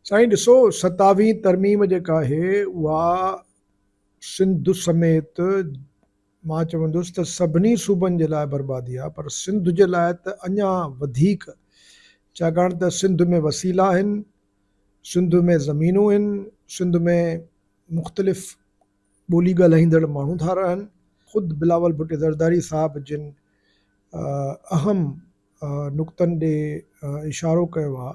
سائين ڏسو ستاويهين ترميم جيڪا آهي اها سنڌ سميت مان چوندس ته سڀني صوبن جي لاء بربادي آهي پر سنڌ جي لاء ته اڃا وڌيڪ ڇاڪاڻ ته سنڌ ۾ وسيلا آهن سنڌ ۾ زمينون آهن سنڌ ۾ مختلف ٻولي ڳالهائيندڙ ماڻهو ٿا رهن خود بلاول ڀٽي زرداري صاحب جن اهم نقطن ڏي اشارو ڪيو آهي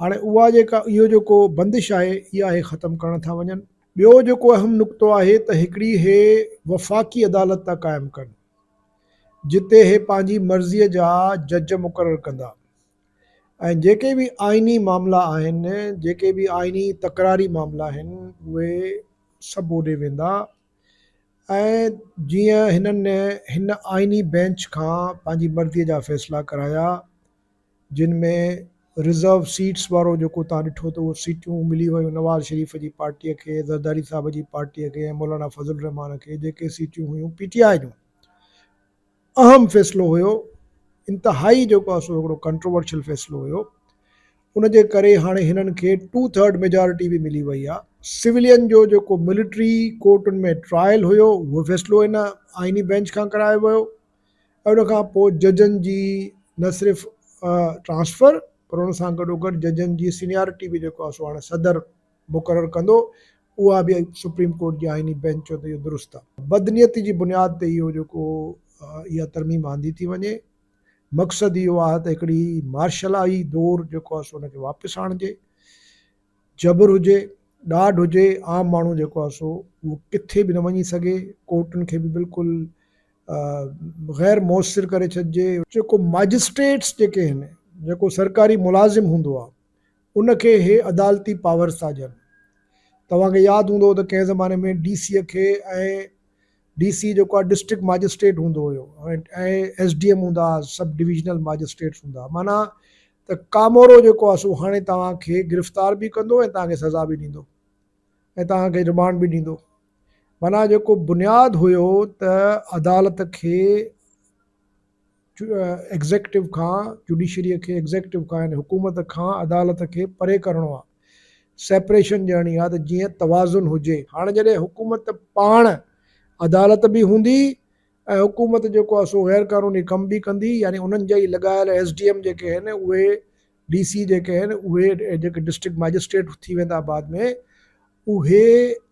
هاڻي اها جيڪا اهو جيڪو بندش آهي اها هي ختم ڪرڻ ٿا وڃن ٻيو جيڪو اهم نقطو آهي ته هڪڙي هي وفاقي عدالت ٿا قائم ڪن جتي هي پنهنجي مرضي جا جج مقرر ڪندا ۽ جيڪي به آئيني معاملا آهن جيڪي به آئيني تڪراري معاملا آهن اهي سڀ اوڏي ويندا ۽ جيئن هنن هن آئيني بينچ کان پنهنجي مرضي جا فيصلا ڪرايا جن ۾ رزرو سيٽس وارو جيڪو تان ڏٺو ته اهو سيٽون ملي ويون نواز شريف جي پارٽي کي زرداري صاحب جي پارٽي کي ۽ مولانا فضل الرحمان کي جيڪي سيٽون هيون پي ٽي آء جون اهم فيصلو هيو انتهائي جيڪو آهي سو هڪڙو ڪنٽروورشل فيصلو هيو ان جي ڪري هاڻي هنن کي ٽو ٿرڊ ميجارٽي به ملي وئي آهي سولين جو جيڪو ملٽري ڪورٽن ۾ ٽرائل هيو اهو فيصلو هن آئيني بينچ کان ڪرايو ويو ۽ ان کان پوء ججن جي نه صرف ٽرانسفر پر ان سان گڏو گڏ ججن جي سينيارٽي به جيڪو سو هاڻي صدر مقرر ڪندو اها به سپريم ڪورٽ جي آئيني بينچ چيو ته اهو درست آهي بدنيتي جي بنياد تي اهو جيڪو اها ترميم آندي ٿي وڃي مقصد اهو آهي ته هڪڙي مارشلائي دور جيڪو سو ان کي واپس آڻجي جبر هجي ڏاڍ هجي عام ماڻهو جيڪو سو اهو ڪٿي به نه وڃي سگهي ڪورٽن کي به بلڪل غير موثر ڪري ڇڏجي. جيڪو مئجسٽريٽس جيڪي آهن جيڪو سرڪاري ملازم هوندو آهي ان کي اهي عدالتي پاورز ٿا ڏين توهان کي ياد هوندو ته ڪنهن زماني ۾ ڊي سي کي ۽ ڊي سي جيڪو آهي ڊسٽرڪٽ مئجسٽريٽ هوندو هيو ۽ ايس ڊي ايم هوندا هئا سب ڊويزنل مئجسٽريٽس هوندا هئا معنيٰ ته ڪامورو جيڪو آهي سو هاڻي توهان کي گرفتار به ڪندو ۽ توهان کي سزا به ڏيندو ۽ توهان کي رمانڊ به ڏيندو معنيٰ جيڪو بنياد هيو ته عدالت کي ايگزيڪٽو کان جوڊيشري کي ايگزيڪٽو کان يعني حڪومت کان عدالت کي پري ڪرڻو آ سيپريشن ڏيڻي آ ته جيئن توازن هجي هاڻ جڏهن حڪومت پاڻ عدالت به هوندي ۽ حڪومت جيڪو آ سو غير قانوني ڪم به ڪندي يعني انهن جا ئي لڳايل ايس ڊي ايم جيڪي آهن اهي ڊي سي جيڪي آهن اهي جيڪي ڊسٽرڪٽ مئجسٽريٽ ٿي ويندا بعد ۾ اهي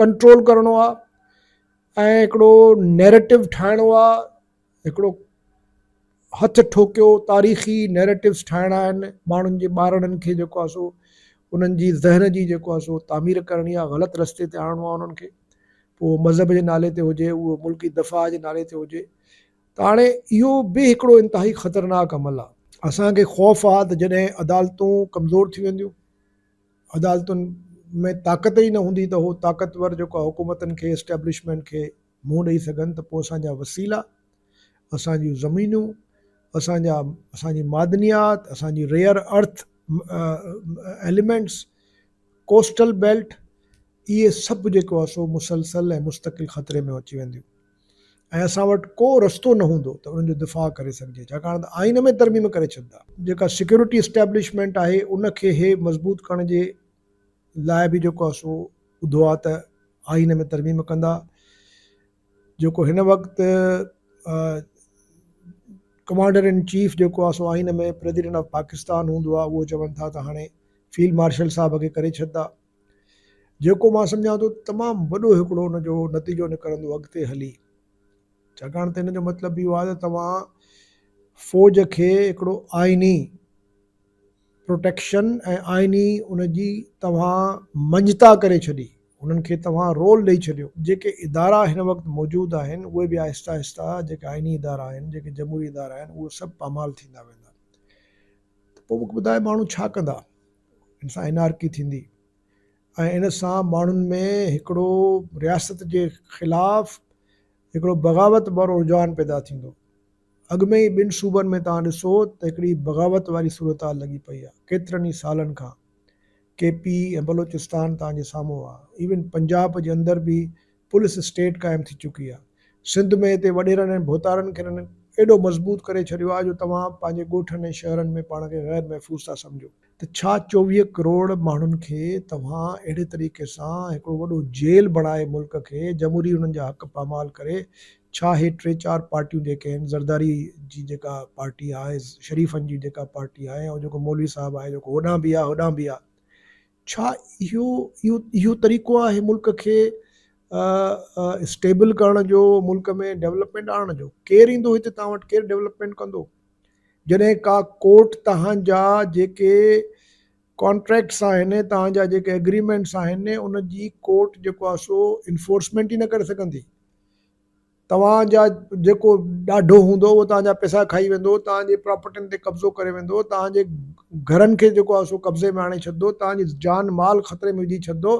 ڪنٽرول ڪرڻو آ ۽ هڪڙو نيريٽو ٺاهڻو آ هڪڙو هٿ ٺوڪيو تاريخي نيريٽوس ٺاهڻا آهن ماڻهن جي ٻارڙن کي جيڪو آ سو انهن جي ذهن جي جيڪو آ سو تعمير ڪرڻي آ غلط رستي تي آڻڻو آ انهن کي پوء مذهب جي نالي تي هجي اهو ملڪي دفاع جي نالي تي هجي ته هاڻي اهو به هڪڙو انتهائي خطرناڪ عمل آ اسان کي خوف آ ته جڏهن عدالتون ڪمزور ٿي وينديون عدالتن ۾ طاقت ئي نه هوندي ته هو طاقتور جيڪو حڪومتن کي اسٽيبلشمينٽ کي منهن ڏئي سگهن ته پوء اسان جا وسيلا، اسان جون زمينون، اسان جا اسان جي معدنيات، اسان جي rare earth elements, coastal belt اهي سڀ جيڪو آهي سو مسلسل ۽ مستقل خطري ۾ اچي وينديون. ۽ اسان وٽ ڪو رستو نه هوندو ته انهن جو دفاع ڪري سگهجي ڇاڪاڻ ته آئين ۾ ترميم ڪري ڇڏيندا. جيڪا سيڪيورٽي اسٽيبلشمينٽ آهي ان کي هي مضبوط ڪرڻ جي لاء به جيڪو آهي سو ٻڌو آهي ته آئين ۾ ترميم ڪندا جيڪو هن وقت ڪمانڊر ان چيف جيڪو آهي سو آئين ۾ پريزيڊنٽ آف پاڪستان هوندو آهي اهو چون ٿا ته هاڻي فيلڊ مارشل صاحب کي ڪري ڇڏيندا جيڪو مان سمجهان ٿو ته تمام وڏو هڪڙو ان جو نتيجو نڪرندو اڳتي هلي ڇاڪاڻ ته ان جو مطلب به اهو آهي ته توهان فوج کي هڪڙو آئيني پروٽيڪشن ۽ آئيني ان جي توهان مڃتا ڪري ڇڏي انهن کي توهان رول ڏئي ڇڏيو جيڪي ادارا هن وقت موجود آهن اهي به آهستي آهستي جيڪي آئيني ادارا آهن جيڪي جمهوري ادارا آهن اهي سڀ پامال ٿيندا ويندا ته پوء مون کي ٻڌايو ماڻهو ڇا ڪندا ان سان انارڪي ٿيندي ۽ ان سان ماڻهن ۾ هڪڙو رياست جي خلاف هڪڙو بغاوت وارو رجحان پيدا ٿيندو اڳ ۾ ئي ٻن صوبن ۾ توهان ڏسو ته هڪڙي بغاوت واري صورتحال لڳي پئي آهي ڪيترن ئي سالن کان ڪي پي ۽ بلوچستان توهان جي سامهون آهي ايون پنجاب جي اندر به پوليس اسٽيٽ قائم ٿي چڪي آ سنڌ ۾ اتي وڏيرن ۽ ڀوتارن کين انهن ايڏو مضبوط ڪري ڇڏيو آ جو توهان پنهنجي ڳوٺن ۽ شهرن ۾ پاڻ کي غير محفوظ ٿا سمجهو ته ڇا چوويهه ڪروڙ ماڻهن کي توهان اهڙي طريقي سان هڪڙو وڏو جيل بڻائي ملڪ کي جمهوري انهن جا حق پامال ڪري ڇا هي ٽي چار پارٽيون جيڪي آهن زرداري جي جيڪا پارٽي آ شريفن جي جيڪا پارٽي آ ۽ جيڪو مولوي صاحب آ جيڪو هوڏانهن به آ هوڏانهن به آ ڇا اهو اهو طريقو آهي ملڪ کي اسٽيبل ڪرڻ جو ملڪ ۾ ڊولپمينٽ آڻڻ جو ڪير ايندو هتي تان وٽ ڪير ڊولپمينٽ ڪندو جڏهن ڪا ڪورٽ تهانجا جيڪي ڪانٽريڪٽس آهن تهانجا جيڪي اگريمينٽس آهن ان جي ڪورٽ جيڪو آهي سو انفورسمينٽ ئي نه ڪري سگهندي توهان جا جيڪو ڏاڍو هوندو اهو توهان جا پئسا کائي ويندو، توهان جي پراپرٽين تي قبضو ڪري ويندو، توهان جي گهرن کي جيڪو آهي سو قبضي ۾ آڻي ڇڏندو، توهان جي جان مال خطري ۾ وجهي ڇڏندو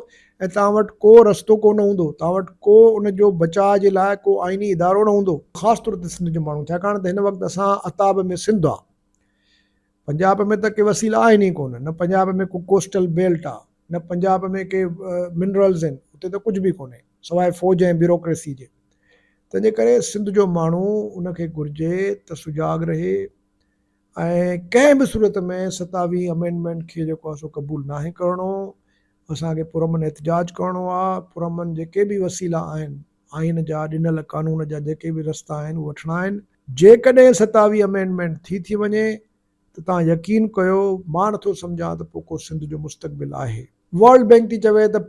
۽ توهان وٽ ڪو رستو ڪو نه هوندو، توهان وٽ ڪو ان جو بچاء جي لاء ڪو آئيني ادارو نه هوندو. خاص طور تي سنڌ جو ماڻهو ڇاڪاڻ ته هن وقت اسان عتاب ۾ سنڌ آ. پنجاب ۾ ته ڪي وسيلا آهن ئي ڪونه، نه پنجاب ۾ ڪو ڪوسٽل بيلٽ آ، نه پنجاب ۾ ڪي منرلز آهن، اتي ته ڪجهه به ڪونهي سواء فوج ۽ بيوروڪريسي جي، تنهنجي ڪري سنڌ جو ماڻهو ان کي گهرجي ته سجاڳ رهي ۽ ڪنهن به صورت ۾ ستاويهين امينڊمينٽ کي جيڪو آ سو قبول ناهي ڪرڻو، اسان کي پرامن احتجاج ڪرڻو آ، پرامن جيڪي به وسيلا آهن. آئين جا ڏنل قانون جا جيڪي به رستا آهن اهي وٺڻا آهن. جيڪڏهن ستاويهه امينڊمينٽ ٿي ٿي وڃي ته توهان يقين ڪيو مان نه ٿو سمجهان ته پوء ڪو سنڌ جو مستقبل آهي. ورلڊ بينڪ ٿي چوي ته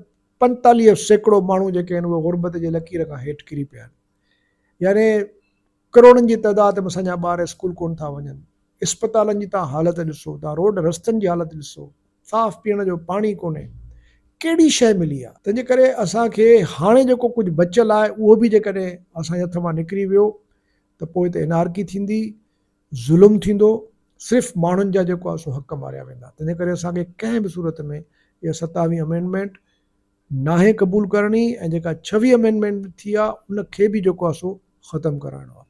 پنجيتاليهه سيڪڙو ماڻهو جيڪي آهن اهي غربت جي لڪير کان هيٺ ڪري پيا آهن يعني ڪروڙن جي تعداد ۾ اسان جا ٻار اسڪول ڪونه ٿا وڃن، اسپتالن جي توهان حالت ڏسو، توهان روڊ رستن جي حالت ڏسو، صاف پيئڻ جو پاڻي ڪونهي، ڪهڙي شيء ملي آ؟ تنهنجي ڪري اسان کي هاڻي جيڪو ڪجهه بچيل آهي اهو به جيڪڏهن اسان جي هٿ مان نڪري ويو ته پوء ته انارڪي ٿيندي، ظلم ٿيندو، صرف ماڻهن جا جيڪو آ سو حق ماريا ويندا، تنهنجي ڪري اسان کي ڪنهن به صورت ۾ اها ستاويهين امينڊمينٽ، ناهي قبول ڪرڻي ۽ جيڪا ڇويهه Amendment ٿي آ ان کي به جيڪو آ سو ختم ڪرائڻو آ